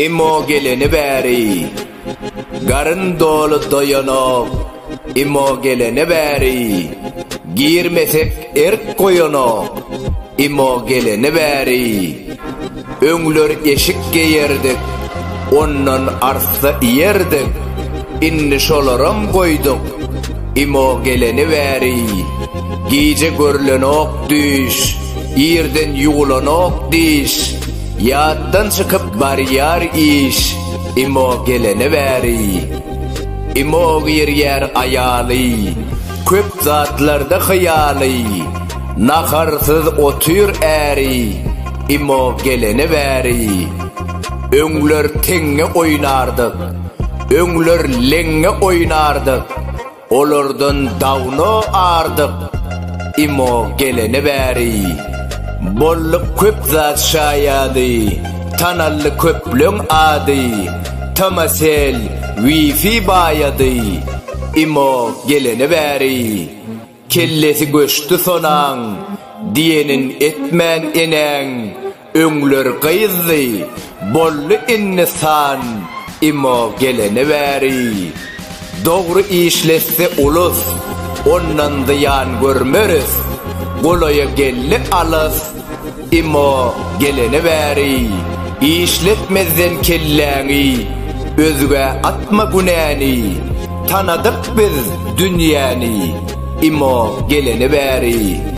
Imo geleni bäri Garyn doly doýanok Imo geleni bäri Girmesek erk goýanok Imo geleni bäri Öňler eşik geýerdik, ondan arssa iýerdik, indi şolaram goýduk. Imo geleni bäri, gije görlenok düýş, irden ýuwlanok diş, ýatdan çykyp barýar iş, Imo geleni bäri. Imo girýär aýaly, köp zatlarda hyýaly, naharsyz otyr äri, Imo gelene bäri öňler teňňe oýnardyk, öňler leňňe oýnardyk, olardan dawno ardyk. Imo gelene bäri bolluk köp zat şaýady, tanaldy köpleň ady, Tomasel, Wifi baýady. Imo gelene bäri. Kellesi göçdi sonaň, diýenin etmän enäň, öňler gyzdy, boldy indi san, imo gelene bäri. Dogry işletse ulus, ondan zyýan görmeris, golaýa geldi alys, Emma gelene bäri işletmezden kelläňi özgä atma günäni Tanadyk biz dünýäni Emma gelene bäri.